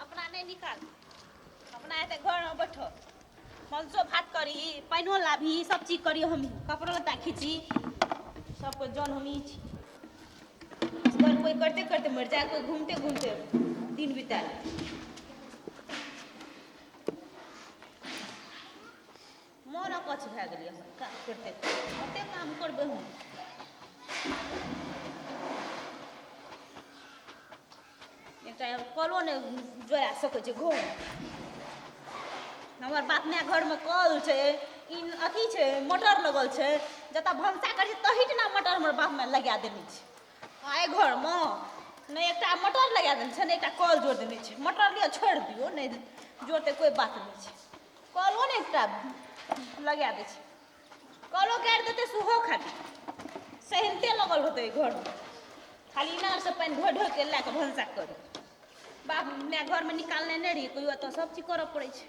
अपना नहि निकाल अपना एते घरमे बैठो मनसो भात करी पानिओ लाबी सब चीज करी हम कपड़ो लत्ता खींची सबके जन हम ई छी असगर कोइ करते करते मरि जाए कोइ घूमते घूमते दिन बिता मोन अकछ भए गेलै हम काम करते कतेक काम करबै हम एकटा कलो ने जोड़ा सकै छै घर हमर बाप माय घरमे कल छै ई अथी छै मोटर लगल छै जतऽ भनसा करै छै तहिठिना मोटर हमर बाप माय लगा देने छै आ एहि घरमे नहि एकटा मोटर लगा देने छै नहि एकटा कल जोड़ देने छै मोटर लिअ छोड़ि दियौ नहि जोड़तै कोइ बात नहि छै कलो ने एकटा लगा दै छै कलो काटि देतै सेहो खाली सहिते लगल होतै घरमे खाली इनारसँ पानि ढो ढो के लए कऽ भनसा करी बाप माय घरमे निकालने नहि रहियै कहियो एतऽ सभ चीज करऽ पड़ै छै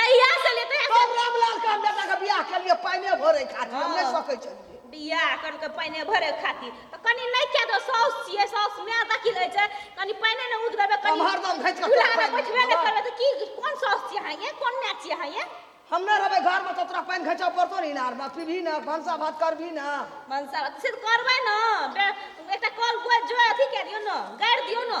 जहिया से ले तहिया से हम रामलाल के हम बेटा के बियाह केलिए पाइने भरे खातिर हम नहीं सकै छलिए बियाह कन के पाइने भरे खातिर त कनी नहीं के दो साउस छिए साउस में दखी ले छै कनी पाइने ने उग देबे कनी हम हरदम घैच के चूल्हा में बैठबे ने करबे त की कोन साउस छिए हां ये कोन ने छिए हां ये हम नहीं रहबे घर में तो तोरा पानि घैचा पड़तो ने इनार में पीबी ना भनसा भात करबी ना भनसा भात से करबै ना एकटा कल गोज जो अथी के दियो ना गाड़ दियो ना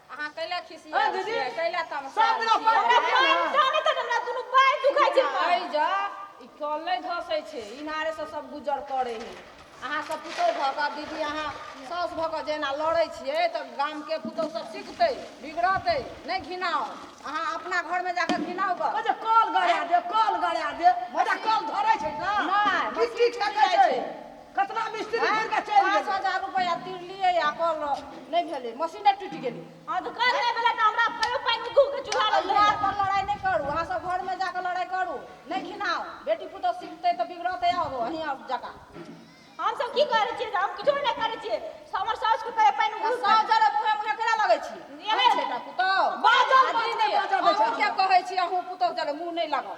अहाँ कैला खिसिया दीदी कैला तम सब दिन अपन जाने तक हमरा दुनु बाय दुखाय छै आइ जा ई कल नै धसै छै इनारे से सब गुजर करै है अहाँ सब पुतौ भ क दीदी अहाँ सास भ क जेना लड़ै छियै त गाम के पुतौ सब सिखतै बिगड़तै नै घिनाओ अहाँ अपना घर में जाके घिनाओ ग ओजे कल गड़ा दे कल गड़ा दे ओजे कल धरै छै ना किछ किछ करै छै कतना मिस्त्री घुर के चलि गेल 5000 रुपया तिरलिए आ कल नै भेले मशीन टूटि गेलै हां त कल नै भेले त हमरा कहियो पाइन के घुर के चूल्हा लग यार पर लड़ाई नै करू अहां सब घर में जाके लड़ाई करू नै घिनाओ बेटी पुतो सीखते त बिगड़ते आब अहीं आब जका हम सब की करै छियै हम किछो नै करै छियै हमर साउस के कहियो पाइन घुर साउस जरे मुहे मुहे केना लगै छी एहे बेटा पुतो बाजल बाजल नै बाजल के कहै छी अहूं पुतो जरे मुंह नै लगाओ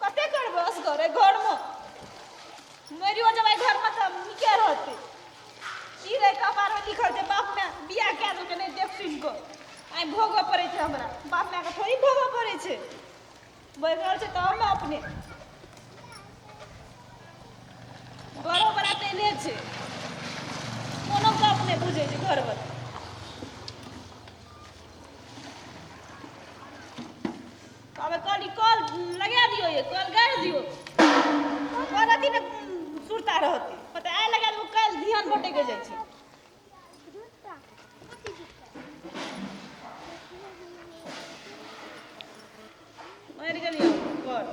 कते करबै असगरे घरमे मरियो जेबै घरमे तऽ नीके रहतै ई रहै कपारमे लिखल छै बाप माय बियाह कए देलकै नहि देख सुनि कऽ आइ भोगऽ पड़ै छै हमरा बाप मायके थोड़ी भोगऽ पड़ै छै बढ़ि रहल छै तऽ हम अपने घरो बड़ा तैने छै कोनो गप नहि बुझै छै घरवला अब कल कल लगा दियो ये कल गाड़ दियो कल अथी ने सुरता रहती पता आए लगा वो कल ध्यान बटे के जाए मर गेलियै घर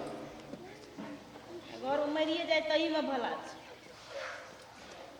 घर मरिए जाए तहीमे भला छै